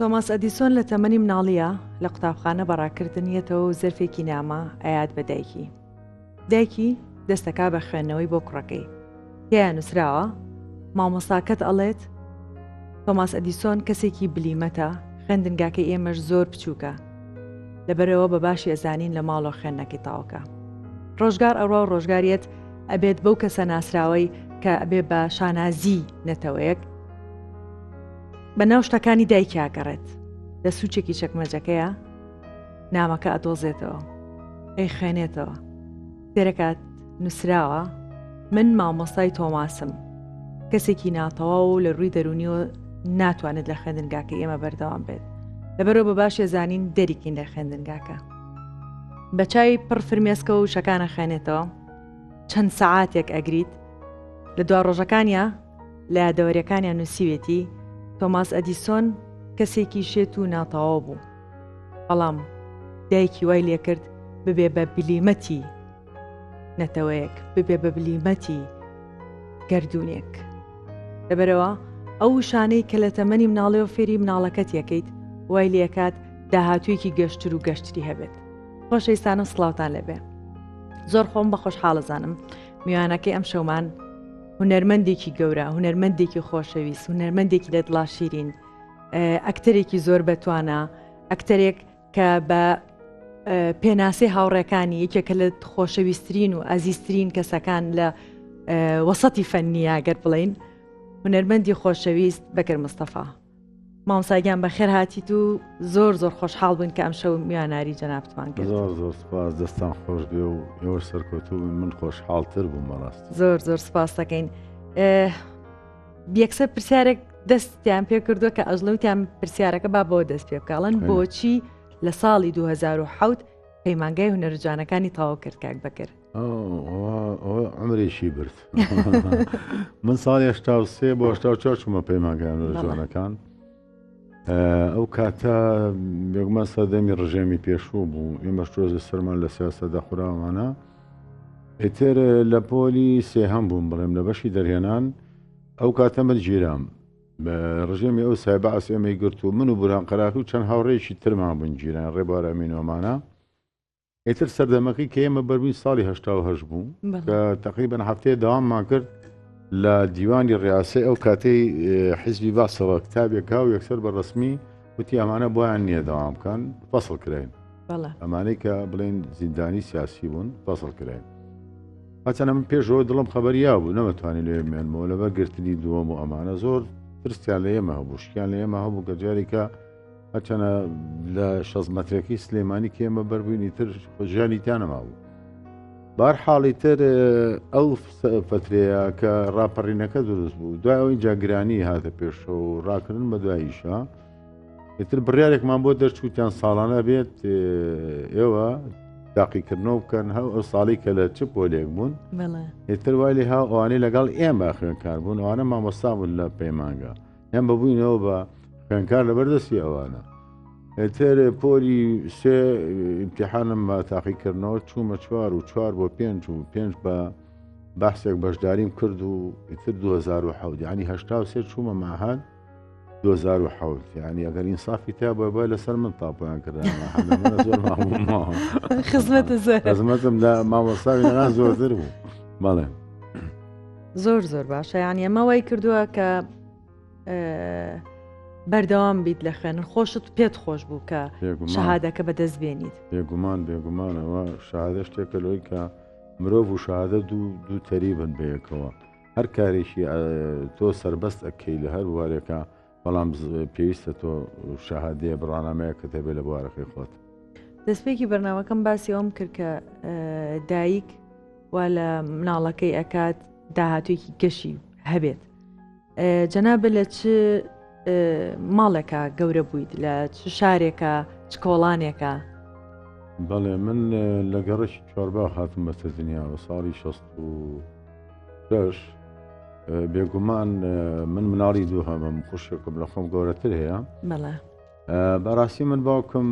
تۆماس ئەدیسۆن لە تەمەنی مناڵیە لە قوتابخانە بەڕاکردنیەتەوە و زەرفێکی نامە ئەیات بە دایکی. دایکی دەستەکا بە خوێندنەوەی بۆ کوڕەکەی تێیان نووسراوە مامۆساکەت ئەڵێت تۆماس ئەدیسۆن کەسێکی بلیمەتە خوێندنگاکە ئێمەش زۆر بچووکە لەبەرەوە بە باشی ئەزانین لە ماڵۆ خوێندنەکەی تاوکە ڕۆژگار ئەڕا و ڕۆژگاریت ئەبێت بەو کەسە ناسراوەی کە ئەبێ بە شانازی نەتەوەیەک بە ناو شتەکانی دایکیاگەڕێت لە سوچێکی چەکمەجەکەیە نامەکە ئەدۆزێتەوە ئەی خوێنێتەوە دەرەکات نووسراوە من مامۆستای تۆماسم کەسێکی ناتەواو و لە ڕووی دەرونیەوە ناتوانێت لە خوێندنگاکە ئێمە بەردەوام بێت لەبەرەوە بە باشێ زانین دەریکین لە خوێندنگاکە بە چای پڕ فرمێسکە و شەکانە خوێنێتەوە چەند سەعاتێک ئەگریت لە دوا ڕۆژەکانیا لە یادەوەریەکانیان نووسیوێتی تۆماس ئەدیسۆن کەسێکی شێت و ناتەواو بوو بەڵام دایکی وای لێکرد ببێ بە بلیمەتی نەتەوەیەک ببێ بە بلیمەتی گردردونێک لەبەرەوە ئەو شانەی کە لە تەمەنی مناڵێ و فێری مناڵەکەت یەکەیت وای لەکات داهاتوویەکی گەشتر و گەشتری هەبێت خۆشەویستانم سلااوان لەبێ زۆر خۆم بە خۆشحاڵەزانم میوانەکەی ئەم شەومان هونەرمەندێکی گەورە هونەرمەندێکی خۆشەویست هونەرمەندێکی لە دڵاشیرین ئەکتەرێکی زۆر بەتوانە ئەکتەرێک کە بە پێناسەی هاوڕێکانی یەکێکە لە خۆشەویستترین و ئازیزترین کەسەکان لە وەسەتی فەننیە گەر بڵین هونەرمەندی خۆشەویست بەکر مستەفا مامساگیان بە خێر هاتیت و زۆر زۆر خۆشحاڵ بوون کە ئەم شەو میواناری جەنابتمان کرد زۆر زۆر سپاس دەستان خۆش بێ و ئێوە سەرکەوتوو من خۆشحاڵتر بووم بەڕاست زۆر زۆر سپاس دەکەین. یەکسەر پرسیارێک دەستیان پێ کردووە کە ئەزلوتیان پرسیارەکە با بۆ دەست پێ بکڵن بۆچی لە ساڵی 2010 پەیمانگای هونەرجانەکانی تاوا کرد کاک بەکرد ئەمرێکی برد من ساڵی هشتا سێ بۆ هشتا چوار چوومە پەیمانگەیان لە جوانەکان ئەو کاتە بێگومان سەردەمی ڕژێمی پێشوو بوو ئێمە شتۆزە سەرمان لە سیاسە دەخوراوانە ئیتر لە پۆلی سێهەم بووم بڵێم لە بەشی دەرهێنان ئەو کاتە من گیرام بە ڕژێمی ئەو سایبە ئەس ئێمەی گرت و من و بوران قەراخی و چەند هاوڕێکی ترمان بنگیران ڕێبارە مینۆمانە ئیتر سەردەمەکەی کە ئێمە بەروی ساڵی هشتا هەش بوو کە تقریبن هەفتەیە داواممان کرد لە دیوانی ڕاستە ئەو کاتەی حیزبی باسەوە کتابێکا و یەکسەر بە ڕسمی وتی ئەمانە بۆیان نییە داوام بکەن فەسڵ کراین ئەمانەی کە بڵێن زیندانی سیاسی بوون فەسڵ کراین هەچەنە من پێشەوە دڵم خەبەریا بوو نەمەتوانانی لێ مێنمەوە لەبەر گرتنی دووەم و ئەمانە زۆر پرسیان لە ئێمە هەبوو شکیان لە ئێمە هەبوو کە جارێکە هەرچەنە لە شەز مەترەکەی سلێمانی کێمە بەربووینی تر ژیانی تانەما بوو بار حاڵی تر ئەو فترەیە کە ڕاپەڕینەکە دروست بوو دوای ئەو اینجا گرانی هاتە پێشەوە و ڕاکردن بە دواییشە ئیتر بڕارێکمان بۆ دەرچووتان ساڵانە بێت ئێوە تاقیکردنەوە بکەن هەو ئەو ساڵی کە لە چ پۆلێک بوون ئیتر وای لێ هاوانەی لەگەڵ ئێمە خوێنکار بوون ئەوانە مامۆستا بوون لە پەیمانگە یان بەبووینەوە بە خوێنکار لە بەردەستی ئەوانە تر پۆلی سێ امتحانم بە تاقیکردنەوە چوومە چوار و چوار بۆ پێنج و پێنج بە بەحسێک بەشداریم کرد و ئیتر 2010 ینی هشتا سێ چوومە ماهان 2010 ینی ئەگەر ئینسافی تا بە بە لەسەر من تاپیان کردخزمەتم لە مامۆستاوی زۆرتر بوو بەڵێ زۆر زۆر باشە یان ئەمە وای کردووە کە بەردەوام بیت لە خوێنن خۆشت پێت خۆش بوو کە شەهادەکە بەدەست بێنیت بێگومان بێگومانەوە شادە شتێکە لۆی کە مرۆڤ و شادە دوو دوو تەریبن بەیەکەوە هەر کارێکی تۆ سربەست ئەکەی لە هەر وارێکە بەڵام پێویستە تۆ شەهادەیە بڕانامەیەکت هەبێ لە بوارەکەی خۆت. دەستپێکی بەرنمەکەم باسی ئەوم کرد کە دایک وا لە مناڵەکەی ئەکات داهاتوێکی گەشی هەبێت جەنابە لە چ ماڵێکە گەورە بوویت لە چ شارێکە چ کۆڵانێکە بەڵێ من لە گەڕشی چۆربا خاتم بەسە دنیاوە ساڵی 16 بەش بێگومان من مناڵی دوو هەمم خوشکم لە خۆم گەورەتر هەیە بەڵێ بەڕاستی من باوکم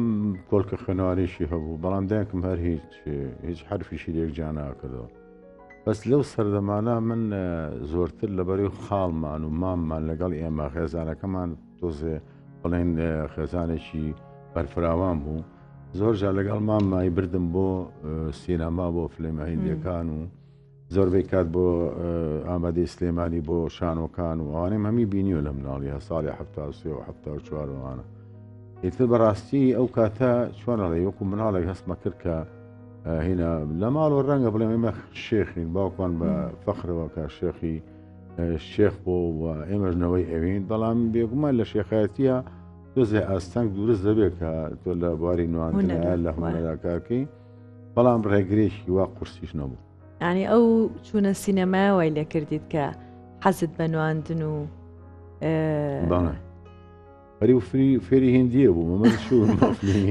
کۆلکە خوێنوارێکی هەبوو بەڵام دایکم هەر هیچ هیچ حرفیشی لێک جیانناکردەوە بەس لەو سەردەمانە من زۆرتر لەبەری خاڵمان و ماممان لەگەڵ ئێمە خێزانەکەمان تۆزێ بڵێن خێزانێکی بەرفراوان بوو زۆر جا لەگەڵ ماممای بردم بۆ سینەما بۆ فلمەهندەکان و زۆربەی کات بۆ ئامادەی سلێمانی بۆ شانۆکان و ئەوانەی هەمی بینیوە لە مناڵی هە ساڵی ه و چوارەوانە ئیتر بەڕاستی ئەو کاتە چۆنەڵێ وەکو مناڵێک هەستمە کرد کە هینا لە ماڵەوە ڕەنگە بڵێ ئێمە شێخین باوکمان بە فەخرەوە کە شێخی شێخ بۆ و ئێمەژنەوەی ئەوین بەڵام بێگومان لە شێخایەتە دۆزێ ئاستەنگ دروست دەبێت کە تۆ لە بواری نوانە لە هوەکارکەی بەڵام ڕێگرێکی وا قورسیش نەبوو ینی ئەو چوونە سینەمایەوەی لێ کردیت کە حەزت بە نواندن و هەری و فری فێری هندیە بوو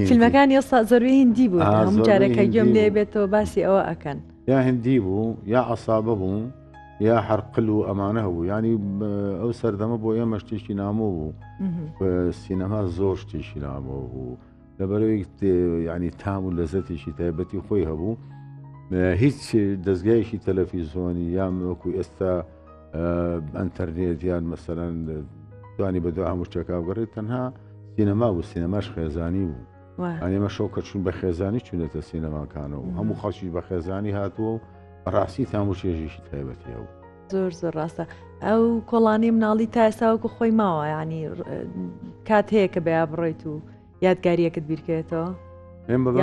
فیلمەکان ئێستا زەروی هندی بوو هەموو جارێکە گوێم لێ بێتەوە باسی ئەوە ئەکەن یا هندی بوو یا عسابە بوو یا حرقل و ئەمانە هەبوو ینی ئەو سەردەمە بۆ ئێمە شتێکی نامۆ بوو سینەما زۆر شتێکی نامۆ بوو لەبەرەوەی ینی تام و لەزەتێکی تایبەتی خۆی هەبوو هیچ دەستگایشی تەلەفیزۆنی یان وەکو ئێستا ئەتەرنێت یان مەسەرەن توانی بەدو هەموو شتەکە بگەڕێت تەنها سینەما بوو سینەماش خێزانی بوو ئەێمە شەو کە چون بە خێزانی چونێتە سینەماکانەوە هەموو خەڵکی بە خێزانی هاتووە و ڕاستی تاموچێژیشی تایبەتیەوە زۆر زۆر ڕاستە ئەو کۆڵانی مناڵی تا ئێساوەکو خۆی ماوە ینی کات هەیە کە بەیا بڕیت و یادگاریەکت بیرکێتەوە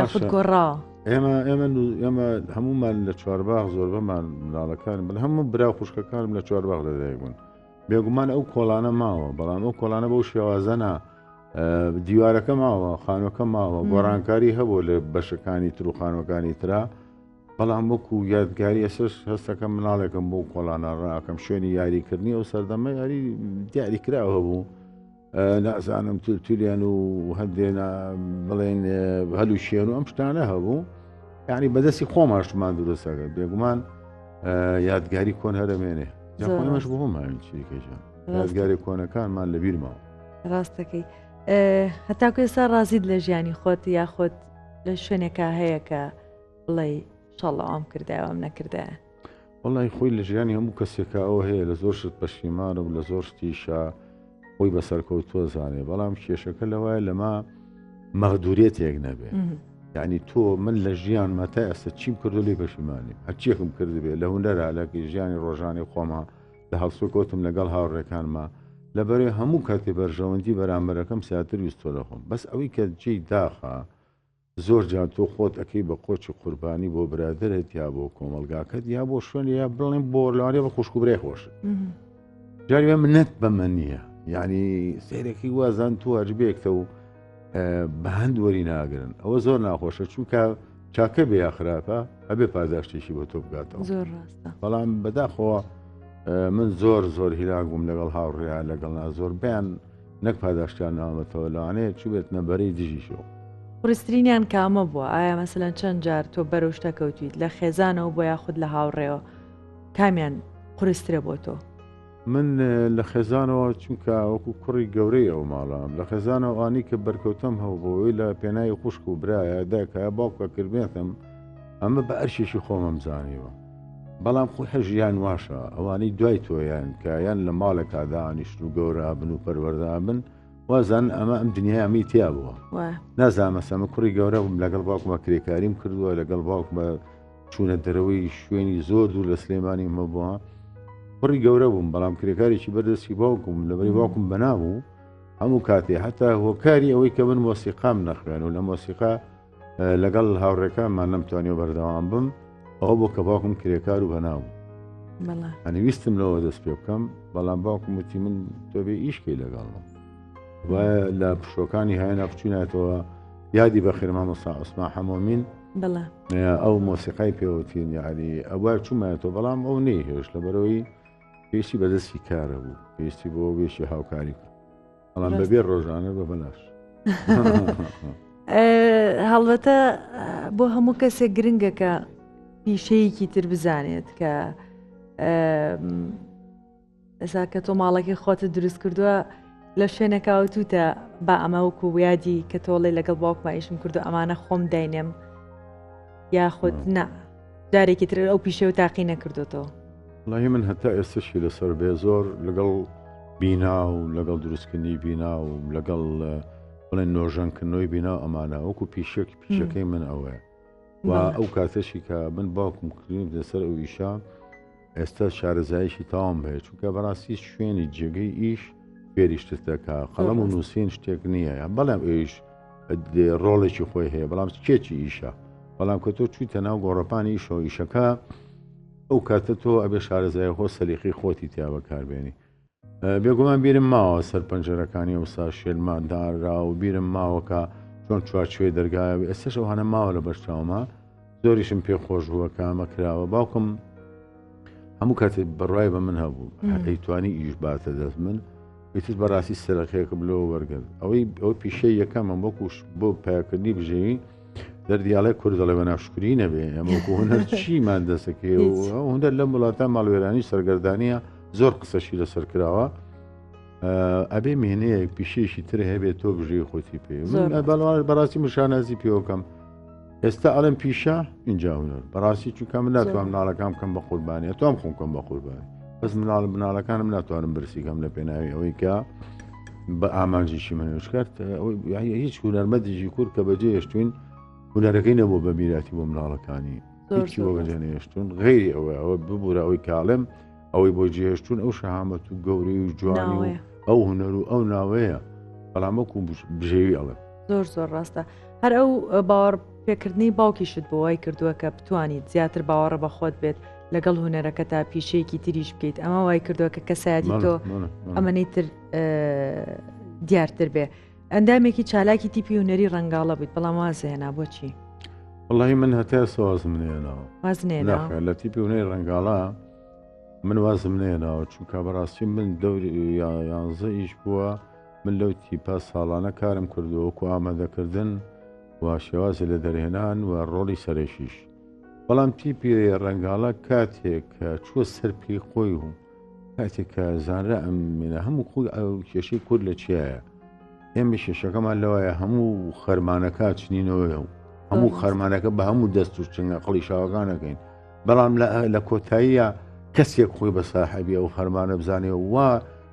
یاخود گۆڕا ئێمە ئێمە ئێمە هەمومان لە چوارباغ زۆر بەمان مناڵەکان بن هەموو برا خوشکەکانم لە چوارباغ لەدایک بوون بێگومان ئەو کۆڵانە ماوە بەڵام ئەو کۆڵانە بەو شێوازەنا دیوارەکە ماوە خانوەکە ماوە گۆڕانکاری هەبوو لە بەشەکانی تروخانەکانی تررا بەڵام وەکو یادگاری ئێسش هەستەکەم مناڵێکم بۆ کۆڵانە ڕاکەم شوێنی یاریکردنی ئەو سەردەمە یاری دیاری کراوە بوو نازانم تولتولیان و هەندێنا بڵێن هەلو شێن و ئەم شتانە هەبوو یعنی بەدەستی خۆماشمان دروستەکە بێگومان یادگاری کۆن هەرمێنێ خۆمەش بۆ ماوین چیکەژە یادگاری کۆنەکانمان لە بیرمەوە ڕاستەکەی هەتاکو ئێستا ڕازیت لە ژیانی خۆت یاخۆت لە شوێنێکە هەیەکە بڵێ شەڵاوام کرداوام نەکردایە وڵی خۆی لە ژیانی هەموو کەسێکە ئەوە هەیە لە زۆر شت پەشیمانە و لە زۆر شتیشە خۆی بەسەرکەوتووە زانێ بەڵام کێشەکە لەوایە لەما مەغدورێتێک نەبێت یعنی تۆ من لە ژیان مەتا ئێستا چیم کردو لی پەشیمانی هەرچیەکم کردبێ لە هوەرا لە ژیانی ڕۆژانی خۆما لە هەڵسو کۆتم لەگەڵ هاوڕێکانما لەبەرێ هەموو کاتێ بەرژەوەندی بەرامبەرەکەم ساتر ویستۆ لە خۆم بەس ئەوەی کە جێی داخە زۆر جار تۆ خۆت ئەکەی بە قۆچی قوربانی بۆ برادرت یا بۆ کۆمەلگاکەت یا بۆ شوێن یا بڵێن بۆ لەوانێ بە خوشکوبرێ خۆش جاری منەت بەمە نییە یعنی سیرێکی وازان تو هەربێکتە و بە هەند وەری ناگرن ئەوە زۆر ناخۆشە چونکە چاکە بێ یا خراپە ئەبێ پاداشتێکی بۆ تۆ بگاتەوە بەڵام بەداخەوە من زۆر زۆر هیلاک بووم لەگەڵ هاوڕێیا لەگەڵ نا زۆر بیان نەک پاداشتیان نامەتەوە لەوانەیە چوبێتنە بەرەی دژیشەوە. قورسترینیان کامە بووە ئایا مەسەلەن چەند جار تۆ بەرەو شتە کەوتویت لە خێزانەوە بۆ یاخود لە هاوڕێوە کامیان قورسترە بۆ تۆ؟ من لە خێزانەوە چونکە وەکو کوڕی گەورەی ئەو ماڵام لە خێزانەوە ئانی کە بەرکەوتم هەوبەوەی لە پێناوی خوشک و برایە دایکە باوکە کردێتم ئەمە بە ئەرشێکی خۆمەم زانیوە بەڵام خۆ حە ژیان واشە ئەوانەی دوای تۆیان کە یان لە ماڵێکا دانیشت و گەورە بن و پەروەەردان بن وازان ئەمە ئەم دنیامی تیا بووە نازانمەسەمە کوڕی گەورە بووم لەگەڵ باوکمە کرێکاریم کردووە لەگەڵ باوکمە چوونە دەرەوەی شوێنی زۆر دوور لە سلێمانی مە بووە کوڕی گەورە بووم بەڵام کرێکارێکی بەردەستی باوکم لەبەری باوکم بەنابوو هەموو کاتێ هەتا هۆکاری ئەوەی کە من مۆسیقام نەخوێن و لە مۆسیقا لەگەڵ هاوڕێکانمان نەمتوانی و بەردەوام بم ئەوە بۆ کە باوکم کرێکار و بەناو ئەنی ویستم لەوە دەست پێ بکەم بەڵام باوکم وتی من تۆبێ ئیشکی لەگەڵم و لە پشۆکانی هاێنا بچیناتەوە یادی بە خێرما مەسا عوسما حەمۆمین ئەو مۆسیقای پێوتین یاری ئەوە چوومەتەوە بەڵام ئەو نەیهێش لە بەرەوەی پێشی بەدەستی کارە بوو پێشتی بۆ وێشی هاوکاری بەڵام بەبێ ڕۆژانە بە بەلاش هەڵبەتە بۆ هەموو کەسێک گرنگەکە پیشەیەکی تر بزانێت کە ئەسا کە تۆ ماڵەکەی خۆتە دروست کردووە لە شوێنەکەوتوتە با ئەمە وکو ویادی کە تۆڵی لەگەڵ باوکمایشم کردو ئەمانە خۆم داینێم یاخود نا جارێکی تر ئەو پیشە و تاقی نەکردوێتەوە. وڵی من هەتا ئێستشی لەسەر بێ زۆر لەگەڵ بینا و لەگەڵ دروستکردنی بینا و لەگەڵ بڵێن نۆژەنکردنەوەی بینا و ئەمانە وەکو پیشێک پیشەکەی من ئەوەیە و ئەو کاتەشی کە من باوکم کردیم لەسەر ئەو ئیشە ئێستا شارەزایشی تاوام هەیە چونکە بەڕاستی شوێنی جێگەی ئیش پێریشتەکە قەڵم و نووسین شتێک نییە بەڵام ئێش ڕۆڵێکی خۆی هەیە بەڵام کێکی ئیشە بەڵام کە تۆ چوویتە ناو گۆڕەپانی ئیشەوە ئیشەکە ئەو کاتە تۆ ئەبێ شارەزای خۆ سەلیقی خۆتی تیا بەکاربێنی بێگومان بیرم ماوە سەر پەنجەرەکانی ئەوسا شێلمان داررا و بیرم ماوەکە چۆن چوارچێ دەرگایە ئێستش ئەو هەنە ماوە لە بەرچاومە زۆریشم پێ خۆش بووە کامە کراوە باوکم هەموو کاتێ بڕای بە من هەبوو ئەیتوانی ئیش باتە دەست من ئیتر بەڕاستی سەرەکەیەکە بلەوە وەرگرت ئەوەی ئەو پیشەی یەکەمە وەکوش بۆ پاکردنی بژێوی دەردیاڵێ کورد دەڵێ بە ناشکری نەبێ ئەمە هەر چیمان دەسەکرێ هەندەر لەم وڵاتە ماڵوێرانی سەرگەردانە زۆر قسەشی لەسەر کراوە ئەبێ مێنەیەک پیشێکی تر هەبێت تۆ بژێ خۆتی پێ بەڵوان بەڕاستی مشانازی پێوەکەم ئێستا ئەڵم پیشە اینجا هونەر بەڕاستی چونکە من ناتوان مناڵەکان بکەم بە قوربانیە تۆم خۆم کەم بە قوربان بەس مناڵ مناڵەکانم ناتوانم برسیکەم لە پێناوی ئەوەی کە بە ئامانجیشی منوش کرد هیچ هونەرمەدیژی کورد کە بەجێ هێشتوین هونەرەکەی نەبوو بە میراتی بۆ مناڵەکانی هیچی بۆ بەجێ نێشتون غیری ئەوە ئەوە ببوورە ئەوەی کاڵێم ئەوەی بۆ جێهشتون ئەو شەهامەت و گەوری و جوان و ئەو هونەر و ئەو ناوەیە بەڵامەکو بژێوی ئەڵێ زۆر زۆر ڕاستە هەر ئەو باوەڕ پێکردنی باوکیشت بۆ وای کردووە کە بتوانیت زیاتر باوەڕە بە خۆت بێت لەگەڵ هوەرەکە تا پیشەیەکی تریش بکەیت ئەمە وای کردووە کە کەسایەتی تۆ ئەمەەی تر دیارتر بێ ئەندامێکی چالاکی تیپی هوەری ڕنگاڵە بوویت بەڵام وازهێنا بۆچی وڵی من هەتا سوازم نێنەوە وازنێنا لە تیپی هوەی ڕنگاڵە من وازم نێنەوە چونکە بەڕاستی من دەوری یانزە ئیش بووە من لەو تیپا ساڵانە کارم کردووەکو ئامادەکردن و شێوازی لە دەرهێنان و ڕۆڵی سەرەکیش بەڵام تیپی ڕەنگاڵە کاتێک کە چوە سەر پێی خۆی و کاتێک کە زانرا ئەم منە هەموو خۆی ئەو کێشەی کورد لە چیایە ئێمە کێشەکەمان لەوایە هەموو خەرمانەکە چنینەوەە و هەموو خەرمانەکە بە هەموو دەست و چنگە قڵی شاوەکانەکەین بەڵام لە کۆتاییە کەسێک خۆی بە ساحبی ئەو خەرمانە بزانێ وا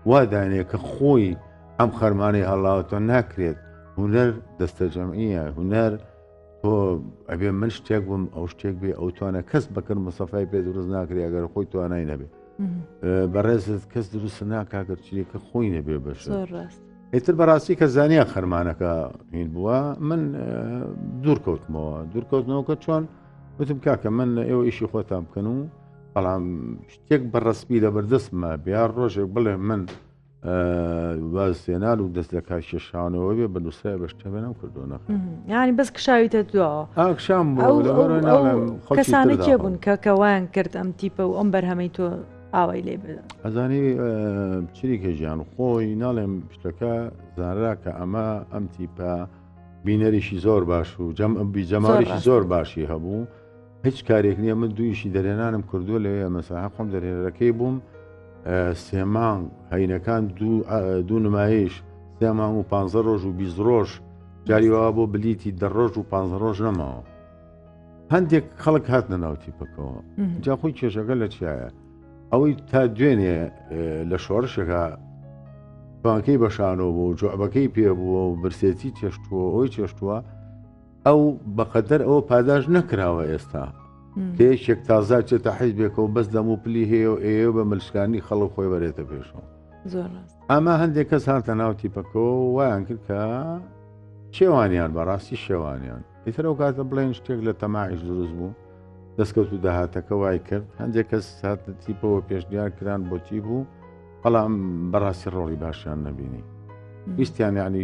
وادانێ کە خۆی ئەم خەرمانەی هەڵاوتۆ ناکرێت هوەر دەستەجەمعە هوەر تۆ ئەبێ من شتێک بووم ئەو شتێک بێ ئەو توانە کەس بەکەر مسەفای پێ دروست ناکرێ ئەگەر خۆی توانای نەبێت بەڕێزت کەس دروست ناکاگەر چیەکە خۆی نەبێ بەش ئیتر بەڕاستی کە زانیا خەرمانەکە هین بووە من دوورکەوتمەوە دوورکەوتنەوەکە چۆن وتم کاکە من ئێوە ئیشی خۆتان بکەن و بەڵام شتێک بەڕسپی لە بەردەستمە بیا ڕۆژێک بڵێ من وازێنان و دەست لە کاکێشانەوە بێ بە نووسای بەشتەمێنم کردو نە ینی بەس کشاویتە دواوە ئاکشام کەسانە کێ بوون کە کەوان کرد ئەم تیپە و ئەم بەرهەمەی تۆ ئاوای لێ بدا ئەزانی چریکە ژیان خۆی ناڵێم شتەکە زانرا کە ئەمە ئەم تیپە بینەریشی زۆر باش و جەم ئەبی جەماریشی زۆر باشی هەبوو. هیچ کارێک نییە من دوویشی دەرێنانم کردووە لەوێ مەسەح خۆم دەرێنەرەکەی بووم سێمانگ هەینەکان دوو نمایش سێمان و پ ڕۆژ و بیست ڕۆژ جاریوا بۆ بلیتی دە ڕۆژ و پ ڕۆژ نەماوە هەندێک خەڵک هاتنە ناوتی پکەوە جا خۆی کێشەکە لە چایە ئەوەی تا دوێنێ لە شۆڕشەکە پانکەی بەشانەوە بوو جوعبەکەی پێ بووە و برسێتی چێشتووە ئەوی چێشتووە ئەو بەقەدەر ئەوە پاداش نەکراوە ئێستا پێشێک تازا چێتە حیزبێکەوە بەس دەم و پلی هەیە و ئێ بە ملشکانی خەڵک خۆی بەرێتە پێشەوە ئەمە هەندێک کەس هاتە ناو تیپەکەەوە وایان کرد کە شێوانیان بەڕاستی شێوانیان ئیتر ئەو کاتە بڵێن شتێک لە تەماعیش دروست بوو دەستکەوت و داهاتەکە وای کرد هەندێک کەس هاتە تیپەوە پێشنیار کران بۆ تی بوو بەڵام بەڕاستی ڕۆڵی باشیان نبینی ویستیان یعنی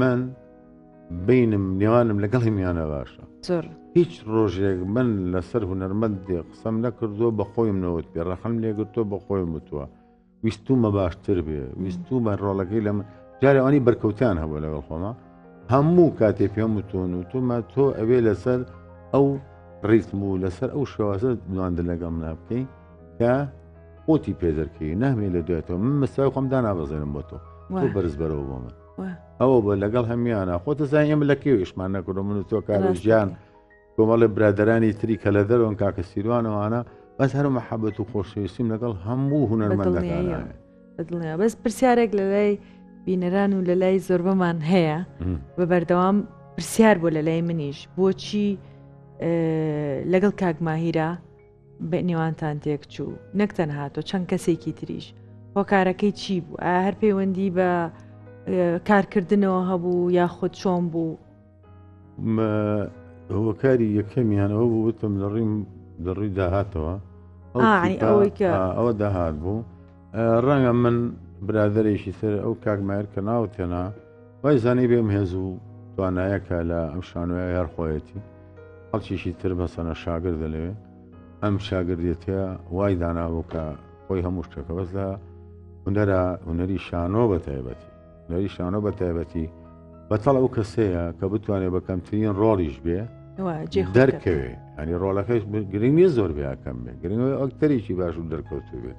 من بینم نێوانم لەگەڵی میانە باشە زۆر هیچ ڕۆژێک من لەسەر هوەرمەند دێ قسەم نەکردووە بە خۆیم نەوت پێ ڕەخم لێگرتۆ بە خۆی وتووە ویستومە باشتر بێ ویستومە ڕۆڵەکەی لە من جارێوانی بەرکەوتان هەبوو لەگەڵ خۆمە هەموو کاتێ پێم وتون و تومە تۆ ئەوێ لەسەر ئەو ڕیتم و لەسەر ئەو شێوازە نواندن لەگەڵ منە بکەین کە خۆتی پێ دەرکەی نامێ لە دوێتەوە من مەسای خۆم دانابەزێنم بۆ تۆ تۆ بەرز بەرەوە بۆ من ئەوە بە لەگەڵ هەمیانە خۆتە زای ئێمە لە کێویشمان نەکردو من و تۆ کار ژیان کۆمەڵی برادرانی تری کە لە دەرەوەن کاکە سیروانەوانە بەس هەر محەبەت و خۆشەویستیم لەگەڵ هەموو هوەرمەندەکان دڵنیا بەس پرسیارێک لە لای بینەران و لە لای زۆربەمان هەیە بە بەردەوام پرسیار بۆ لە لای منیش بۆچی لەگەڵ کاک ماهیرە بە نێوانتان تێک چوو نەک تەنها تۆ چەند کەسێکی تریش هۆکارەکەی چی بوو ئا هەر پەیوەندی بە کارکردنەوە هەبوو یاخود چۆن بوو هۆکاری یەکەمیان ئەو بووتم لە ڕیم لە ڕووی داهاتەوە ئەوە داهات بوو ڕەنگە من برادێکی سەر ئەو کاکمایەر کە ناوتێنا وای زانی بێم هێز و توانایەکە لە ئەم شانۆە یار خۆیەتی خەڵکیشی تر بەسەنە شاگر دەلەوێ ئەم شاگردێتە وای دانابوو کە خۆی هەموو شتەکە بەس لە هوەرە هوەری شانۆ بە تایبەتی نەری شانۆ بە تایبەتی بەتەڵ ئەو کەسەیە کە بتوانێت بە کەمترین ڕۆڵیش بێ دەرکەوێ ئەنی ڕۆلەکەش گرنگ نیە زۆر بیاکەم بێ گرنگەوە ئەکتەرێکی باش و دەرکەوتو بێت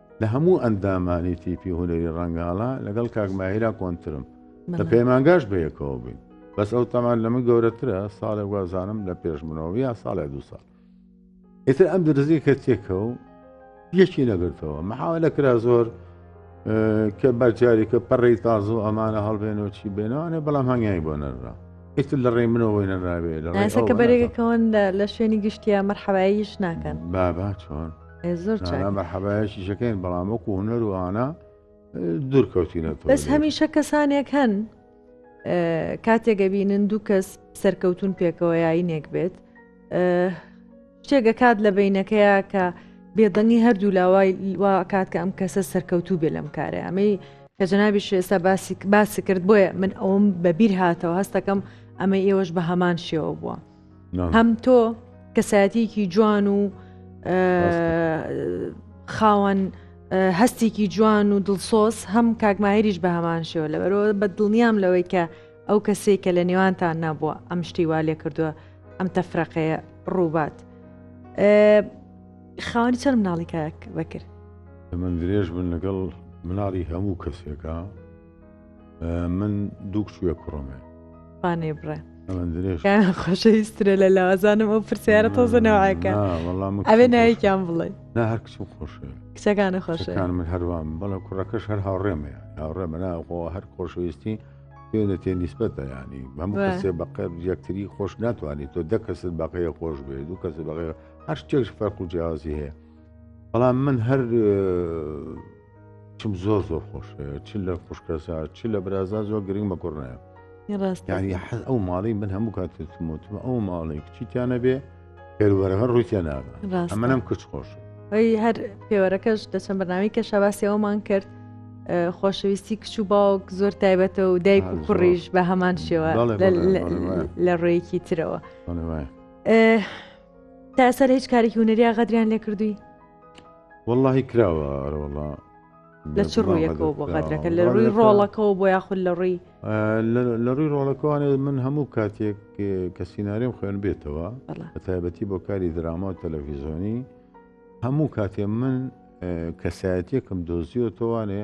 لە هەموو ئەندامانی تیپی هونەری ڕەنگاڵە لەگەڵ کاک ماهیرا کۆنترم لە پەیمانگاش بەیەکەوە بووین بەس ئەو تەمان لە من گەورەترە ساڵێک وازانم لە پێش منەوە یا ساڵێ دو ساڵ ئیتر ئەم درزی کە تێکە و یەکی نەگرتەوە مەحاوە لە کرا زۆر کە بەجارێکە پەڕی تازە و ئەمانە هەڵبێنەوە چی بێنەوەێ بەڵام هەنگیانی بۆ نەرا ئیتر لە ڕێی منەوەی نەراوێ لە ڕێسەکە بەرێگەکەون لە شوێنی گشتیە مەرحەواییش ناکەن بابا چۆن مەحەبایەکیشەکەین بەڵام وەکو هوەر وانە دوورکەوتینە بەس هەمیشە کەسانێک هەن کاتێکگە بینن دوو کەس سەرکەوتون پێکەوە یاینێک بێت شتێکە کات لە بینەکەیە کە بێدەنگی هەردوو لاوای وا کات کە ئەم کەسە سەرکەوتوو بێ لەم کارە ئەمەی کە جەنابی شێستا باسی باسی کرد بۆیە من ئەوم بەبییر هاتەوە هەستەکەم ئەمە ئێوەش بە هەمان شێوە بووە. هەم تۆ کەسایەتیکی جوان و خاوەن هەستێکی جوان و دڵسۆز هەم کاکمایریش بە هەمان شێوە لە بەرەوە بە دڵنیام لەوەی کە ئەو کەسێک کە لە نێوانتان نەبووە ئەم شتی وا لێ کردووە ئەم تەفرەقەیە ڕووبات خاوەنی چەند مناڵی کاک بەکرد من درێژ بن لەگەڵ مناڵی هەموو کەسێکە من دوو کوێ کوڕمێ پانێ بڕێ خۆشەویسترە لە لاوازانم ئەو پرسیارە تۆزە نەوەکە ئەوێ نایکیان بڵێ نا هەر کچم خۆشە کچەکانە خۆشەکان من هەروام بەڵە کوڕەکەش هەر هاوڕێمە هاوڕێ مناخۆ هەر خۆشەویستی پێ لە تێ نیسبەتە ینی بەم کەسێ بەقە یەکتری خۆش ناتوانێت تۆ دە کەست بەقەیە خۆش بێ دوو کەس بەقەیە هەر شتێکش فەرق و جیازی هەیە بەڵام من هەر چم زۆر زۆر خۆش چ لە خوشکەسا چ لە برازا زۆر گرنگ بە کوڕنایە ڕاستیانی حەز ئەو ماڵی من هەموو کاتموتم ئەو ماڵی کچیتیانە بێ پێروەرەکە ڕوویان ناگە ئەمەم کچ خۆش ئەی هەر پێوەرەکەش دەچەم بەناوی کە شەباسیەوەمان کرد خۆشەویستی کچ و باوک زۆر تایبەتە و دایک و کوڕیش بە هەمان شێوە لە ڕێیەکی ترەوە تا سەر هیچ کارێکی هوەریا غەدریان لێ کردووی وەڵاهی کراوە ئەرەوەڵا لە چ ڕوویەکەوە بۆ غەدرەکە لە ڕووی ڕۆڵەکەەوە بۆ یاخود لە ڕووی لە ڕووی ڕۆڵەکەوانێ من هەموو کاتێک کە سیننااریم خوێن بێتەوە بە تایبەتی بۆ کاری دراما و تەلەڤیزۆنی هەموو کاتێ من کەسایەتێکم دۆزیۆتەوانێ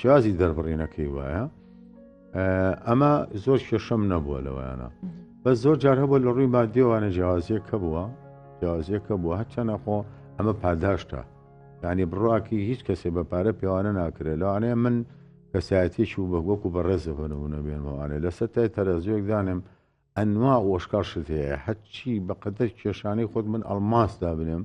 شازی دەربڕینەکەی وایە ئەمە زۆر کێشەم نەبووە لەوەیانە بە زۆر جار هەبوو لە ڕووی مادیێوانە جیازیەکە بووە جیازیەکە بووە هەچەنە خۆ ئەمە پاداشتە ینی بڕاکی هیچ کەسێ بە پارە پێوانە ناکرێت لەوانەیە من کەسایەتێکی و بە وەک و بەڕێزە بنەبوونە بێنەوانێ لەسەر تای تەرەزیۆک دانم ئەنوا ئۆشکاشت هەیە هەچی بەقەدەر کێشانەی خۆت من ئەلماس دابنێم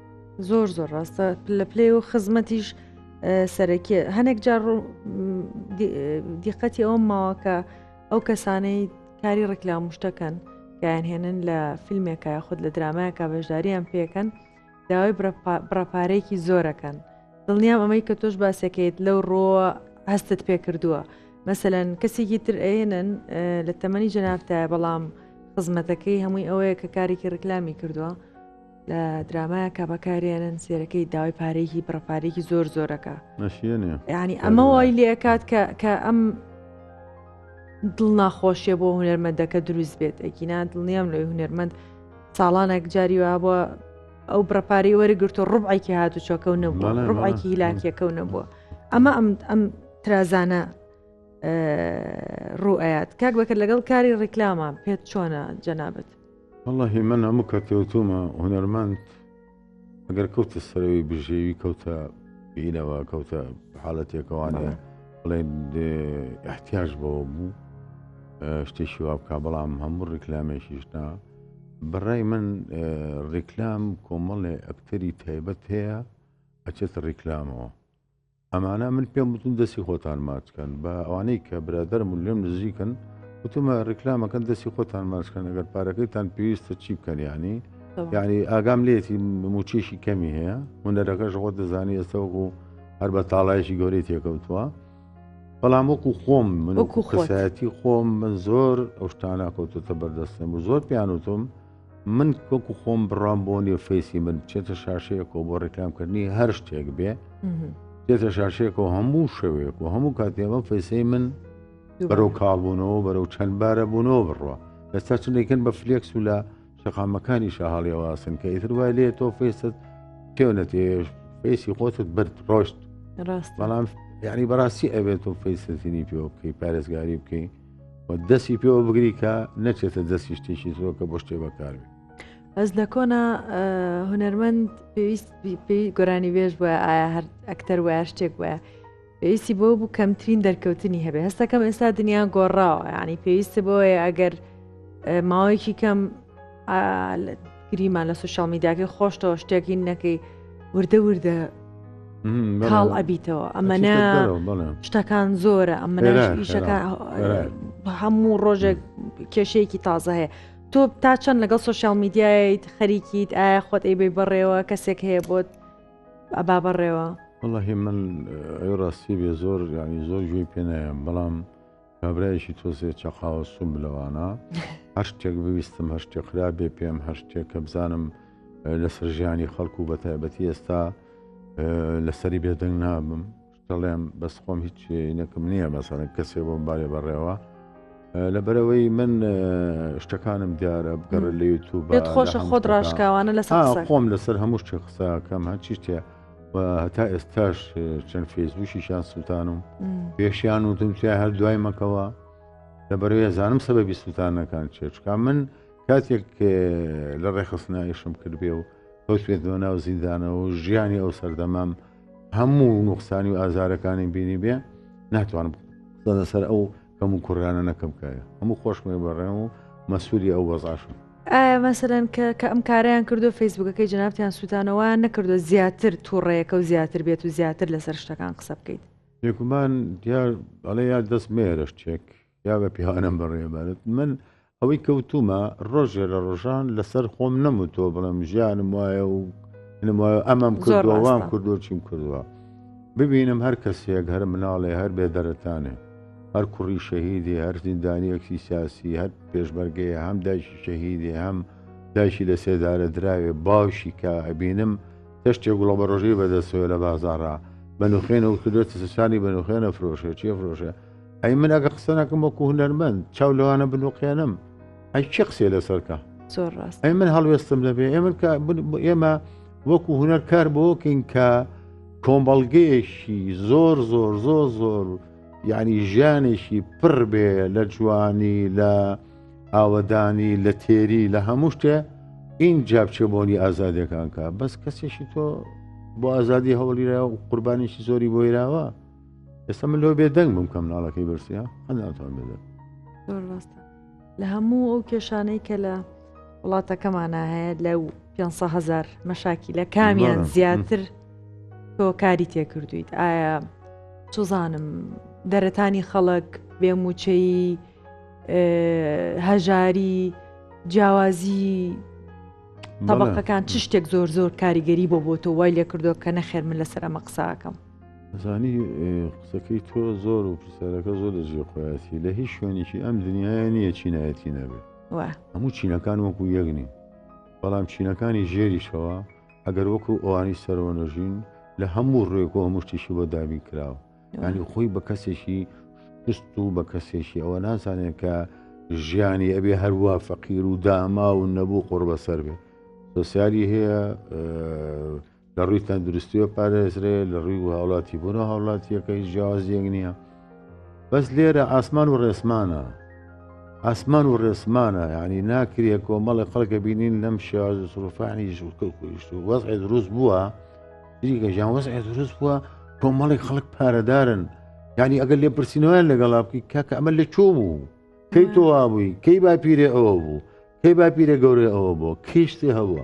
زۆر زۆر ڕاستە لە پلێ و خزمەتیش سەرەکی هەنێک جار دیقەتی ئەوم ماوەکە ئەو کەسانەی کاری ڕکلام شتەکەن کەیان هێنن لە فیلمێکە خود لە درامایەکە بەشداریان پێکەن داوای بڕپارەیەکی زۆرەکەن دڵنیام ئەمەی کە تۆش باسەکەیت لەو ڕۆ هەستت پێ کردووە مەسەەن کەسێکی تر ئەێنن لە تەمەنی جەنافتایە بەڵام خزمەتەکەی هەمووی ئەوەیە کە کارێکی ڕکلامی کردووە لە درامایەکە بەکارێنن سێرەکەی داوای پارێکی بڕپارێکی زۆر زۆرەکە نەشیێنێ ینی ئەمە وای لێکات کە کە ئەم دڵ ناخۆشیە بۆ هوەرمەندەکە دروست بێت ئەگینا دڵنیام لەوی هوەرمەند ساڵانێک جاری وا بووە ئەو بڕپارەی وەرگرتو ڕوبعێکی هاتو چۆکە و نەبووە ڕوبعێکی هیلاکیەکە و نەبووە ئەمە ئەم ئەم ترازانە ڕوئەت کاک بەکە لەگەڵ کاری ڕیکلامان پێت چۆنە جەنابەت وەڵاهی من هەموو کە کەوتومە هونەرمەند ئەگەر کەوتە سەرەوەی بژێوی کەوتە پینەوە کەوتە حاڵەتێکەوانەیە بڵێن احتیاج بەوە بوو شتێکی وا بک بەڵام هەموو ڕیکلامێکیشنا بەڕای من ڕیکلام کۆمەڵێ ئەکتەری تایبەت هەیە ئەچێتە ڕیکلامەوە ئەمانە من پێم وتن دەستی خۆتان ماچکەن بە ئەوانەی کە برادرم و لێم نزیکن وتمە ڕیکلامەکەن دەستی خۆتان ماچکەن ئەگەر پارەکەیتان پێویستە چی بکەن ینی یعنی ئاگام لێتی موچێکی کەمی هەیە هونەرەکەش خۆ دەزانی ئێستا وەکو هەر بە تاڵایشی گەورەی تێکەوتووە بەڵام وەکو خۆم من وەکو خۆسایەتی خۆم من زۆر ئەو شتانە کەوتۆتە بەردەستم و زۆر پیانوتم من وەکو خۆم بڕام بۆ نیە فەیسی من بچێتە شاشەیەکەوە بۆ ڕێکامکردنی هەر شتێک بێ دێتە شاشەیەکەوە هەموو شەوێک و هەموو کاتێمە فەیسەی من بەرەو کاڵبوونەوە بەرەو چەند بارە بوونەوە بڕە ئێستا چندێکن بە فلێکس و لە شەقامەکانی شەهاڵیەوەسن کە ئیتر وای لێ تۆ فێست تێونە تێش فێسی خۆتت برد ڕۆشت بەڵام یعنی بەڕاستی ئەبێت تۆ فەیسەتنی پێ بکەی پارێزگاری بکەین و دەستی پێوە بگری کە نەچێتە دەستی شتێکی زۆر کە بۆ شتێ بەکاربێت بەس لە کۆنا هوەرمەند پێویست پێی گۆرانی بێژ بە ئایا هەر ئەکتەر وایە شتێک وایە پێویستی بۆ بوو کەمترین دەرکەوتنی هەبێ هەستەکەم ئێستا دنیا گۆڕاوە ینی پێویستە بۆیە ئەگەر ماوەیەکی کەم گریمان لە سوشال میداکەی خۆشتەوە شتێکی نەکەی وردە وردە کاڵ ئەبیتەوە ئەمەە شتەکان زۆرە ئەمە ئیشەکان هەموو ڕۆژێک کێشەیەکی تازە هەیە تۆ تا چەند لەگەڵ سوسیال میدیایت خەریکیت ئایا خۆت ئەیبی بەڕێوە کەسێک هەیە بۆت ئەبا بەڕێوە وڵی من ڕاستی بێ زۆر ینی زۆر گوێی پێنایم بەڵام کابرایەکی تۆزێ چەقاوە سوم لەوانە هەر شتێک بویستم هەر شتێک خراپێ پێم هەر شتێک کە بزانم لەسەر ژیانی خەڵکو و بە تایبەتی ئێستا لەسەری بێدەنگ نابم دەڵێم بەس خۆم هیچ نەکەم نییە مەسەرە کەسێ بۆم بارێ بەڕێوە لە بەرەوەی من شتەکانم دیارە بگەڕە لە یوتوب خۆشە خۆت ڕاشکاوانە لەسەر خۆم لەسەر هەموو شتێ قسەکەم هەچی شتێ و هەتا ئێستاش چەند فێزبووشیشان سووتان و پێشیان و تمچای هەر دوای مەکەوە لە بەرەوە زانم سەبەبی سووتانەکان چێچکە من کاتێک لە ڕێخستنایشم کردبێ و کەوتێتەوە ناو زیندانەوە و ژیانی ئەو سەردەمام هەموو نوخسانی و ئازارەکانی بینی بێ ناتوانم لەسەر ئەو کەم و کوڕیانە نەکەم کایە هەموو خۆشمێ بەڕێم و مەسووری ئەو وەزاشم ئایا مەسەرەن کە کە ئەم کاریان کردو فەیسبوکەکەی جنابتیان سووتانەوە نەکردو زیاتر تووڕەیەەکە و زیاتر بێت و زیاتر لەسەر شتەکان قسە بکەیت بێگومان دیار ئەڵێ یا دەست مێرەش چێک یا بە پیاوانم بەڕێبارێت من ئەوەی کەوتومە ڕۆژێ لە ڕۆژان لەسەر خۆم نەموتۆ بڵم ژیانم وایە و وایە ئەمەم کردوەوان کردو چیم کردووە ببینم هەر کەسێک هەر مناڵێ هەر بێ دەرەتانێ هەر کوڕی شەهیدی هەر زیندانیەکی سیاسی هەر پێشمەرگەیە هەم دایشی شەهیدی هەم دایشی لە سێدارە دراوێ باوشی کە ئەبینم تەشتێک گوڵە بە ڕۆژەی بەدەستەوە لە بازارە بەنوخێنە و کردێتە سوسانی بەنوخێنە فرۆشێ چیە فرۆشە ئەی من ئەگە قسە ناکەم وەکو هونەرمەند چاو لەوانە بنوقێنم ئەی چی قسێ لەسەرکە زۆر ڕاست ئەی من هەڵوێستم لەبێ ئێمە کە ئێمە وەکو هونەر کار بۆکەین کە کۆمەڵگەیەکی زۆر زۆر زۆر زۆر یعنی ژیانێکی پڕ بێ لە جوانی لە ئاوەدانی لە تێری لە هەموو شتێ این جابچێ بۆنی ئازادەکانکە بەس کەسێکی تۆ بۆ ئازادی هەوڵیرا و قوربانیشی زۆری بۆیراوە ئێستا من لۆ بێدەنگ بم کە مناڵەکەی برسە هەناتوان بێدە لە هەموو ئەو کێشانەی کە لە وڵاتەکەمانە هەیە لە 500هزار مەشاکی لە کامیان زیاتر تۆ کاری تێکردویت ئایا سوزانم دەرەتانی خەڵک بێموچەیی هەژاری جیاوازی طبقەکان چ شتێک زۆر زۆر کاریگەری بۆ بۆ تۆ وای لێ کردو کە نەخێر من لەسەر ئەمە قساکەم زانی قسەکەی تۆ زۆر و پرسیارەکە زۆر لە جێ خۆیاتی لە هیچ شوێنێکی ئەم دنیاە نییە چینایەتی نەبێت هەموو چینەکان وەکو یەکنی بەڵام چینەکانی ژێریشەوە ئەگەر وەکو ئەوانی سەرەوە نەژین لە هەموو ڕێکۆ هەمووشتیشی بۆ دابین کراوە ینی خۆی بە کەسێکی شست و بە کەسێکی ئەوە نازانێت کە ژیانی ئەبێ هەروە فەقیر و داما و نەبوو قڕ بەسەر بێ سوسیالی هەیە لە ڕووی تەندروستیوە پارێزرێ لە ڕووی و هاوڵاتی بۆرە هاوڵاتیەکە هیچ جیاوازیەک نییە بەس لێرە ئاسمان و ڕێسمانە ئاسمان و ڕێسمانە ینی ناکرێ کۆمەڵی خەڵکە بینین لەم شێواز و سرفانی ژوکەکوشت و وەز دروست بووە دیکە ژیان وەز دروست بووە کۆمەڵی خەڵک پارەدارن ینی ئەگەر لێ پرسینەوەیان لەگەڵا بکەی کاکە ئەمە لە چۆ بوو کەی تۆوا بووی کەی باپیرێ ئەوە بوو کەی باپیرە گەورەی ئەوە بوو کیشتی هەبووە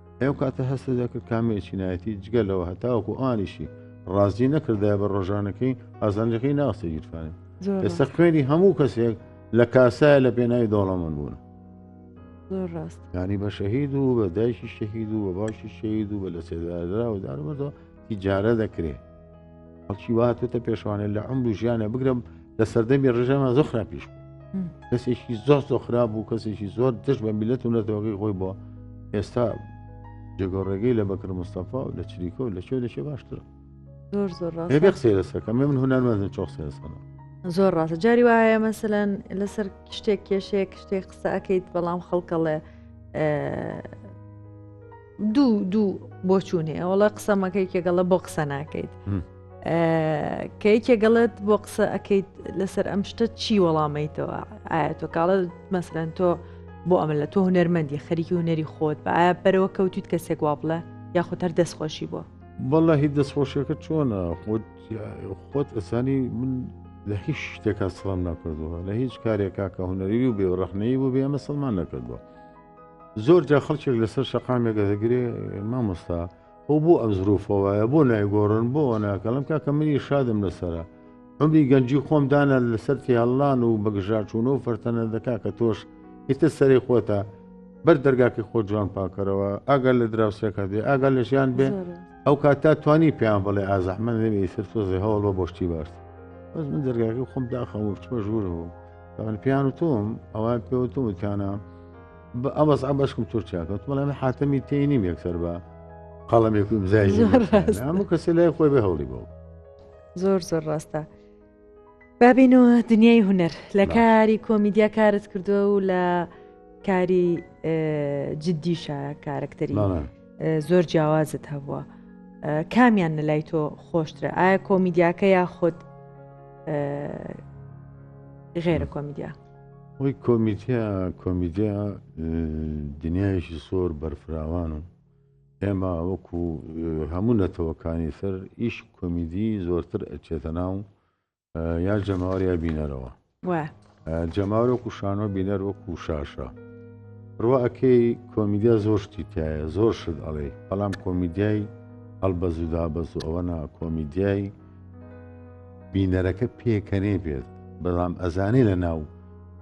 ئەو کاتە هەستە دەکرد کامێری چینایەتی جگە لەوە هەتاوەکو ئانیشی ڕازی نەکردای بە ڕۆژانەکەی ئازانجەکەی ناوسە گیرفانێت ئێستا خوێنی هەموو کەسێک لە کاسایە لە پێناوی دەوڵەمەند بوون ڕاست ینی بە شەهید و بە دایکی شەهید و بە باشی شەید و بە لە سێدارا و دارمەوە تیجارە دەکرێ خەڵکی وهاتێتە پێشوانێ لە عمر و ژیانە بگرم لە سەردەمی ڕژەمە زۆ خراپیش بوو کەسێکی زۆر زۆ خراپ بوو کەسێکی زۆر دش بە میلەت و نەتەوەگەی خۆی بۆ ئێستا جێگۆڕێگەی لە بەکر مستەفا و لە چریکۆ لە چێ لەشێ باشترە زۆر زۆر قسەی لەسەکە من هونەرمەندە چۆ قسە لەسەر زۆر ڕاستە جاری وایە مەسەەن لەسەر شتێک کێشەیە شتێک قسە ئەەکەیت بەڵام خەڵکەڵێ دوو دوو بۆچوون هەیە وڵە قسەمەکە یەکێگەڵە بۆ قسە ناکەیت کە یەکێگەڵت بۆ قسە ئەەکەیت لەسەر ئەم شتە چی وەڵامەیتەوە ئایا تۆ کاڵە مەسرەن تۆ بۆ ئەمە لە تۆ هوەرمەندی خەریکی هوەری خۆت بە ئایا بەرەوە کەوتیت کەسێک وا بڵێ یاخود هەر دەستخۆشی بۆ بەڵە هی دەستخۆشیەکە چۆنە خۆت خۆت ئەسانی من لە هیچ شتێکا سڵام ناکردووە لە هیچ کارێکا کە هوەری و بێ ڕەخنەی بوو بێ ئەمە سڵمان نەکردووە زۆر جا خەڵکێک لەسەر شەقامێکە دەگرێ مامۆستا ئەو بۆ ئەم زروفەوەە بۆ نایگۆڕن بۆ ناکەڵم کاکە منی شادم لەسرە ئەمری گەنجی خۆم دانا لەسەر تێهڵان و بەگژاچوون و فەرتەنە دەکا کە تۆش ئیتە سەری خۆتە بەر دەرگاکەی خۆ جوان پاکەرەوە ئاگەر لە دراوسێکە دێ ئاگەر لە ژیان بێ ئەو کات تا توانی پێیان بڵێ ئازەحمە نەوێ سەر تۆزێ هەوڵ بە بۆشتی باش بەس من دەرگاکە خۆم داخەوە چمە ژوورەوە من پیان وتوم ئەوە پێوتم وتیانە بە ئەمەز ئەمەشکم تورکیا کەوت بەڵێ من حاتەمی تێی نیم یەکسەر بە قەڵەمێک و ئیمزای زۆر نیم. ڕاست. هەموو کەسی لای خۆی بە هەوڵی بۆ زۆر زۆر ڕاستە بابینەوە دنیای هوەر لە باشە. کاری کۆمیدیا کارت کردووە و لە کاری ئه، جددیشە کارکتەری بەڵێ. زۆر جیاوازت هەبووە کامیان لە لای تۆ خۆشترە ئایا کۆمیدیاکە یا خۆت غێرە کۆمیدیا وەی کۆمیتیا کۆمیدیا دنیایشی سۆر بەرفراوان و ئێمە وەکو هەموو نەتەوەکانی سەر ئیش کۆمیدی زۆرتر ئەچێتە ناو یا جەماوەر یا بینەرەوە جەماوەر وەکو شانۆ بینەر وەکو شاشە ڕوا ئەکەی کۆمیدیا زۆر شتی تایە زۆر شت ئەڵێ بەڵام کۆمیدیای هەڵبەزودا بەز و ئەوە نا کۆمیدیای بینەرەکە پێکەنێ بێت بەڵام ئەزانێ لە ناو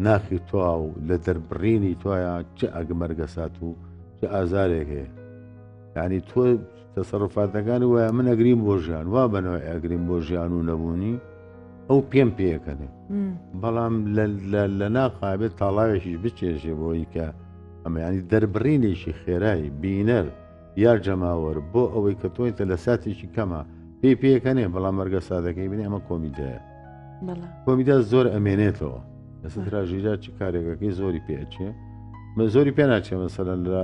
ناخی توا و لە دەربڕینی توایە چ ئەگمەرگەسات و چ ئازارێک هەیە یعنی تۆ تەسەڕوفاتەکانی وایە من ئەگریم بۆ ژیان وا بەنەوە ئەگریم بۆ ژیان و نەبوونی ئەو پێم پێکەنێ بەڵام لە ناقابێت تاڵاوێکیش بچێژێ بۆی کە ئەمەیانی دەربڕینێکی خێرایی بینەر یا جەماوەر بۆ ئەوەی کە تۆیتە لە ساتێکی کەمە پێی پێکەنێ بەڵام مەرگە سادەکەی بنێ ئەمە کۆمیدایە کۆمیدا زۆر ئەمێنێتەوە لەسەر تراژیدا چ کارێکەکەی زۆری پێچێ من زۆری پێ ناچێ مەسەرەن لە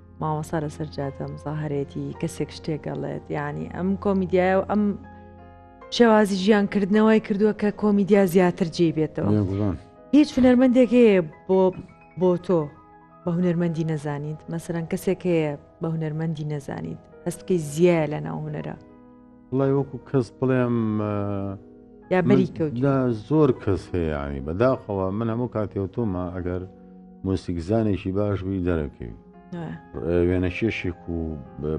ماوەسا لەسەر جادە مزاهرێتی کەسێک شتێگەڵێت یعنی ئەم کۆمیدیایە و ئەم شێوازی ژیان کردنەوەی کردووە کە کۆمیدیا زیاتر جێ بێتەوە هیچ هونەرمەندێک هەیە بۆ بۆ تۆ بە هونەرمەندی نەزانیت مەسەرەن کەسێک هەیە بە هونەرمەندی نەزانیت هەستکەی زیایە لە ناو هونەرە بڵێ وەکو کەس بڵێم یا بەری کەوت زۆر کەس هەیە ینی بەداخەوە من هەموو کاتێوتۆمە ئەگەر مۆسیکزانێکی باش بووی دەرەکەوی وێنەکێشێک و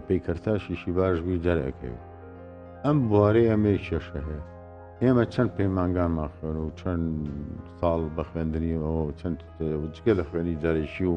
پیکەرتاشیشی باش بووی دەرەکەوی ئەم بوارەی ئەمەی کێشە هەیە ئێمە چەند پەیمانگانمان خوێن و چەند ساڵ بە خوێندنی ئەوە چەند جگە لە خوێنی دەرەکی و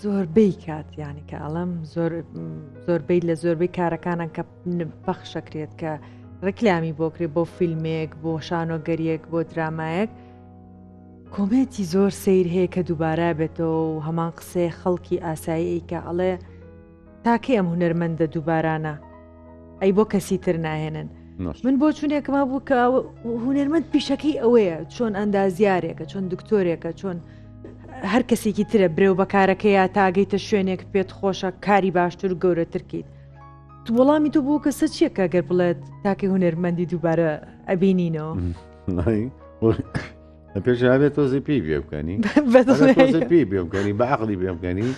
زۆربەی کات ینی کە ئەڵم زۆربەی لە زۆربەی کارەکانە کە پەخشەکرێت کە ڕکلامی بۆکرێ بۆ فیلمێک بۆ شانۆگەریەک بۆ درامایەک کۆمێنتی زۆر سیر هەیە کە دووبارە بێتەوە و هەمان قسەی خەڵکی ئاسایی کە ئەڵێ تاکەی ئەم هونەرمەندە دووبارانە ئەی بۆ کەسی تر ناهێنن من بۆ چونێکم هەبوو کە هونەرمەند پیشەکەی ئەوەیە چۆن ئەندازیارێکە چۆن دکتۆرێکە چۆن هەر کەسێکی ترە برێو بەکارەکە یا تاگەیتە شوێنێک پێت خۆشە کاری باشتر و گەورەترکیت وەڵامی تو بوو کە سە چیەکە گەر بڵێت تاکەی هونەرمەندی دووبارە ئەبینینەوە پێشاوێ تۆزی پێی بێ بکەنی پێی بێ بکەنی بە عقلی بێ بکەنی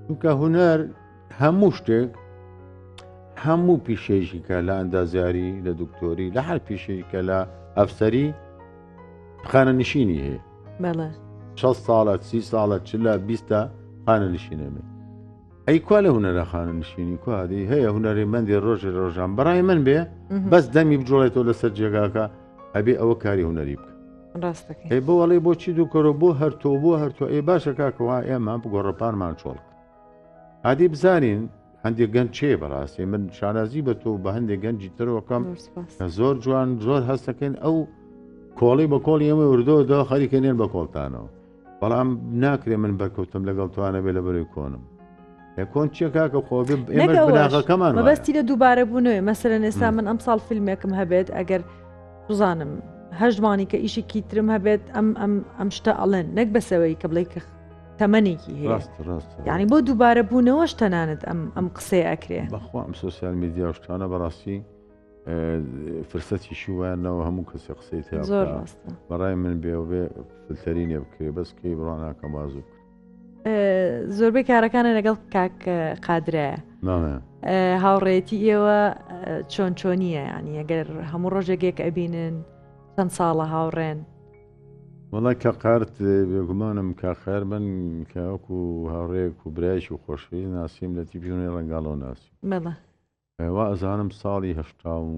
چونکە هوەر هەموو شتێک هەموو پیشێژی کە لە ئەندازیاری لە دکتۆری لە هەر پیشێژ کە لە ئەفسەری خانە نشینی هەیە شە ساڵە سی ساڵە چ لە بیستە خانە نشینێنێ ئەی کوا لە هوەرە خانە نشینی کوادی هەیە هوەری مندی ڕۆژی ڕۆژان بەڕای من بێ بەس دەمی بجوڵێتەوە لەسەر جێگاکە ئەبێ ئەوە کاری هونەری بکە ئەی بۆ ئەڵێ بۆچی دووکەۆ بۆ هەرتۆ بۆ هەرتۆ ئەی باشە کاکەوە ئێمە بگۆڕەپانمان چۆڵک عادی بزانین هەندێک گەنج چێ بەڕاستی من شانازی بە تۆ بە هەندێک گەنجی ترۆکەم زۆر جوان زۆر هەستەکەن ئەو کۆڵی بە کۆڵی ئەمە وردۆدا خەریکە نێن بە کۆڵتانەوە بەڵام ناکرێ من بەرکەوتم لەگەڵ توانەبێ لە بەرەوەی کۆنم کۆن چیە کاکە خۆ بناغەکەمان بەستی لە دووبارە بوونەوەی مەسەرە ئێستا من ئەم ساڵ فیلمێکم هەبێت ئەگەر بزانم هەشتمانی کە ئیشێکی ترم هەبێت ئەم ئەم ئەم شتە ئەڵێن نەک بەسەوەی کە بڵێ کە تەمەێکی هەیە ینی بۆ دووبارە بوونەوەش تەنانەت ئەم ئەم قسەی ئەکرێ بەخوا ئەم سوسیال میدیاشتانە بەڕاستی فرسەتی شووانەوە هەموو کەسی قسەی زۆر ڕاستە بەڕای من بێ بێ فلتەری لێ بکرێ بەس کەی بڕاناکە مازوو بکە زۆربەی کارەکانە لەگەڵ کاک قادرەیە هاوڕێتی ئێوە چۆن چۆنیە ینی ئەگەر هەموو ڕۆژێکێک ئەبینن چەند ساڵە هاوڕێن وڵای کە قارت بێگومانم کا خەر بن کەوەکو هاوڕێک و برایش و خۆشوی ناسیم لە تیبیژونی ڕنگاڵۆ ناسی وائەزانم ساڵی هەشتا و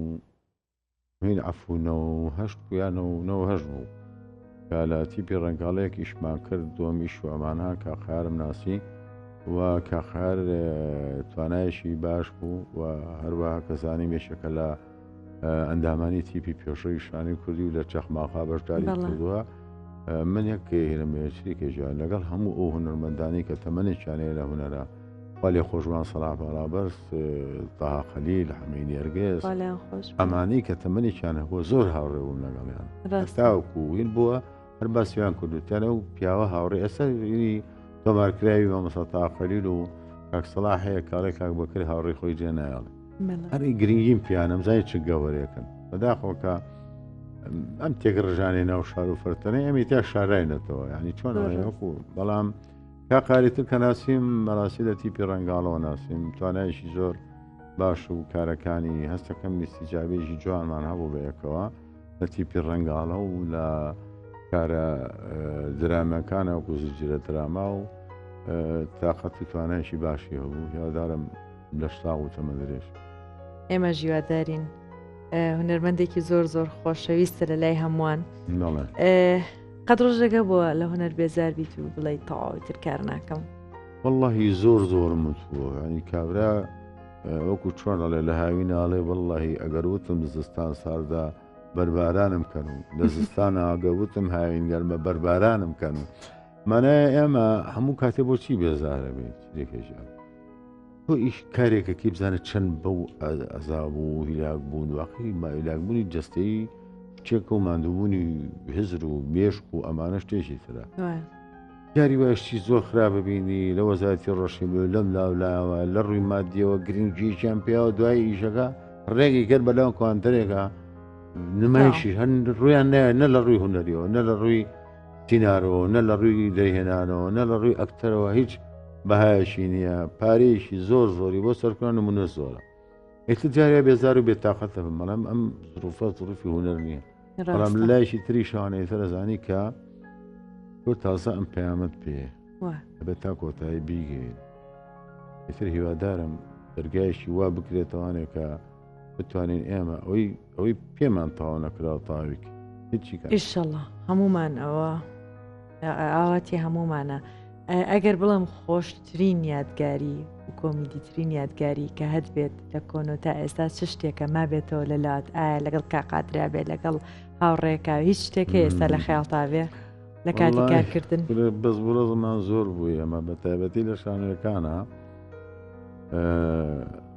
نۆی عەفوو نەوە و هەشت بوو یا نەوە و نەوە هەشت بوو کە لە تیپی ڕەنگاڵەیەک ئیشمان کرد دۆمیش و ئەمانە کاقارم ناسی و کاقار توانایشی باش بوو و هەروەها کەزانی مێشەکە لە ئەندامانی تیپی پێشەوی شانی کوردی و لە چەخماخا بەشداری بەڵێ. کردووە من یەک هێرمێچریکە ژیان لەگەڵ هەموو ئەو هونەرمەندانی کە تەمەنێکیانەیە لە هونەرە خوا لێ خۆش بان سەلاح باڵابەرز، تەها خەلیل، حەمەی نێرگز، خوا لێیان خۆش بێ. ئەمانەی کە تەمەنێکیان هەبووە زۆر هاوڕێ بووم لەگەڵیان ڕاستە. هەتاوەکو وین بووە هەر باسیان کردوتیان ئەو پیاوە هاوڕێ ئێستا ینی تۆمارکراوی مامۆستا تەها خەلیل و کاک سەلاح هەیە کاڵێ کاک بەکر هاوڕێی خۆی جێ نایەڵێ بەڵێ. هەری گرنگیم پیانم زای چ گەوەرێکن بەداخۆکە ئەم تێک ڕژانەی ناو شار و فەرتەنەی ئەمی تا شاراینەتەوە ینی چۆن زۆر ڕاست. وەکو بەڵام کاک قاری تر کە ناسیم مەراسی لە تیپی ڕەنگاڵەوە ناسیم توانایشی زۆر باش و کارەکانی هەستەکەم میستیجابێژی جوانمان هەبوو بە یەکەوە لە تیپی ڕەنگاڵە و لە کارە درامەکانە و کوزجرە دراما و تااقەت و توانایشی باشی هەبوو هیوادارم لە شتا و تەمە درێژ ئێمە ژیوادارین هونەرمەندێکی زۆر زۆر خۆشەویستە لە لای هەمووان قەت ڕۆژێکە بۆ لە هونەر بێزار بیت و بڵێی تەواوی تر کار ناکەم واللهی زۆر زۆرم وتووە ینی کابرا وەکو چۆن ئەڵێ لە هاوی ناڵێ واللهی ئەگەر وتم زستان ساردا بەربارانم کەن و لە زستان ئاگە وتم هاوین گەرمە بەربارانم کەن و مانایە ئێمە هەموو کاتێ بۆچی بێزارە بێت لێکێژیان تۆ ئیش کارێکەکەی بزانە چەند بەو ئەزاب و هیلاک بوون واقعی ماویلاکبوونی جستەی چێکە و مادووبوونی هزر و مێشک و ئەمانە شتێکی ترە یاری وایشتی زۆر خراپە بینی لە وەزارتی ڕۆشی بێ لەم لاولاوە لە ڕووی مادیەوە گرنگیشیان پیاوە دوای ئیشەکە ڕێگەی گەر بەلاو کوانتەرێکە نمایشی هەن ڕویان نایە نە لە ڕووی هوەریەوە نە لە ڕووی سینارۆ نە لە ڕووی دەرهێنانەوە نە لە ڕووی ئەکتەرەوە هیچ بەهایەکی نییە پارەیەکی زۆر زۆری بۆ سەرکردن و منە زۆرە ئێتە جاریا بێزار و بێتاقەت دەبم بەڵام ئەم زروفە زروفی هوەر نییە بەڵام لایشی تری شانەی سەرزانی کە تۆ تازە ئەم پەیامەت پێ بە تا کۆتایی بیگەین ئیتر هیوادارم دەرگایشی وا بکرێتوانێکە بتوانین ئێمە ئەوەی ئەوەی پێمان تاوا نەکراوە تاویک هیچی ئیشەڵە هەمومان ئەوە ئاواتی هەمومانە ئەگەر بڵم خۆشترین یادگاری کۆمیدیترین یادگاری کە هەت بێت لە کۆنۆ تا ئێستا چ شتێکە ما بێتەوە لە لات ئایا لەگەڵ کاقاترا بێت لەگەڵ هاوڕێکا هیچ شتێک ئێستا لە خیاڵتا بێ لە کاتی کارکردن بەس بڕۆزمان زۆر بووی ئەمە بە تایبەتی لە شانەکانە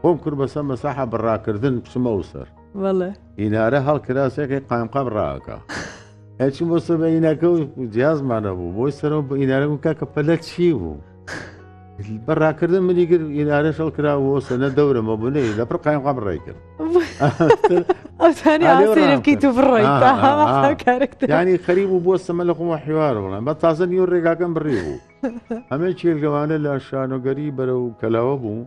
خۆم کرد بە سە مەساحە بە ڕاکردن بچمە و سەر وەڵێ ئینارە هەڵکراسێکی قایمقام ڕاکە هەچی بۆ سەر بە ئینەکە و جیازمانە بوو بۆی سەرەوە بە ئینارە و کاکە پەلە چی بوو بە ڕاکردن منی گر ئینارە شەڵ کراوە سەنە دەورەمە بنەی لە پڕ قایمقام ڕێ کرد ئەوتانی ئالێ و ئاسێرە ڕاکە. بکەیت و بڕۆی آه، تا آه، هەوا آه. کارەکتر ینی خەریب و بۆ سەمە لە خۆمە حیوار بڵێن بە تازە نیو ڕێگاکەم بڕی بوو ئەمە چێلگەوانە لە شانۆگەری بەرە و کەلاوە بوو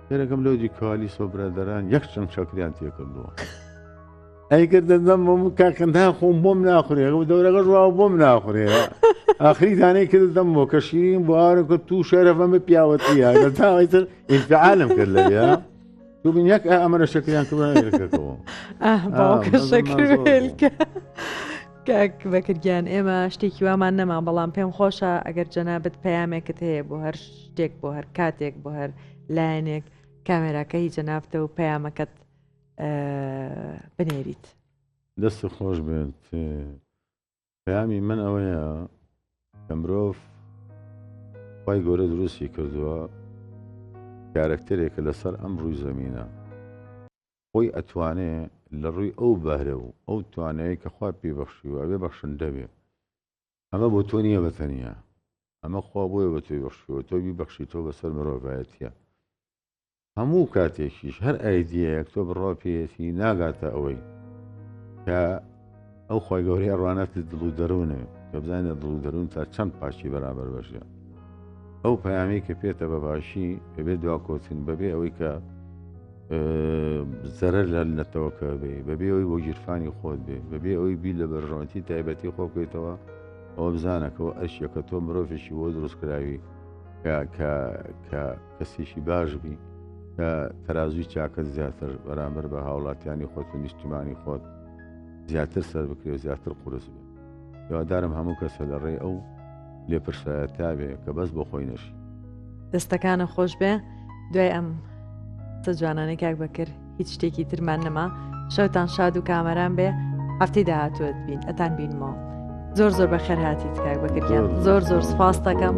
یەرەکەم لۆجی کالیس و برادران یەک چەند چەکریان تێکردووە ئەیکرد دەم بۆم کاکەندا خۆم بۆم ناخورێ و دەورەکە ڕوا بۆم ناخورێ ئاخری دانەی کرد دەم بۆ کە شیرین بوارەکە تو شەرەفەمە پیاوەتیە لە تاوەیتر ئینفعالم کرد لە بیا دوبین یەک ئەمەرە شەکریان کردەوە کاک بەکرگیان ئێمە شتێکی وامان نەما بەڵام پێم خۆشە ئەگەر جەنابەت پەیامێکت هەیە بۆ هەر شتێک بۆ هەر کاتێک بۆ هەر لایەنێک کامێراکە هی جەنافتە و پەیامەکەت بنێریت دەست و خۆش بێت پەیامی من ئەوەیە کە مرۆڤ خی گەورە دروستی کردووە کارەکتەرێکە لەسەر ئەم ڕووی زمینە خۆی ئەتوانێ لە ڕووی ئەو بەهرە و ئەو توانەیە کە خوا پێبەخشیوە ئەوێ بەخشن دەبێ ئەمە بۆ تۆ نییە بە تەنیا ئەمە خوا بۆیە بە تۆی بەخشیەوە تۆ بیبەخشی تۆ بەسەر مرۆڤایەتە هەموو کاتێکیش هەر ئایدیەک تۆ بڕوا پێەتی ناگاتە ئەوەی کە ئەو خۆی گەورەی ڕوانەتی دڵ و دەروونێ کە بزانێت دڵ و دەروون تا چەند پاشی بەرابەر بەشە ئەو پەیامی کە پێێتە بەباشی بەبێ دواکۆچن بەبێ ئەوەی کە زەرەر لە نەتەوەکە بێ بەبێ ئەوی بۆ گیرفانی خۆت بێ بەبێ ئەوی بی لە بەرژەوەتی تایبەتی خۆ بکەیتەوە ئەوە بزانەکەەوە ئەشیەکە تۆ مرۆڤێکی بۆ دروستکراوی کە کەسێکی باش بی کە تەازوی چاکە زیاتر بەرامبەر بە هاوڵاتیانی خۆت و نیشتیمانی خۆت زیاتر سەر بکرێت زیاتر قرس بێت هیوادارم هەموو کەسە لە ڕێی ئەو لێپرسایە تاوێ کە بەس بۆ خۆی نەشی دەستەکانە خۆش بێ دوای ئەم تە جوانانەی کاک بەکرد هیچ شتێکی ترمان نەما شەوتان شاد و کامەران بێ هەفتی داهاتوت بین ئەتان بینمەوە زۆر زۆر بە خێر هاتی تکاک بەکردیان زۆر زۆر سپاس دەکەم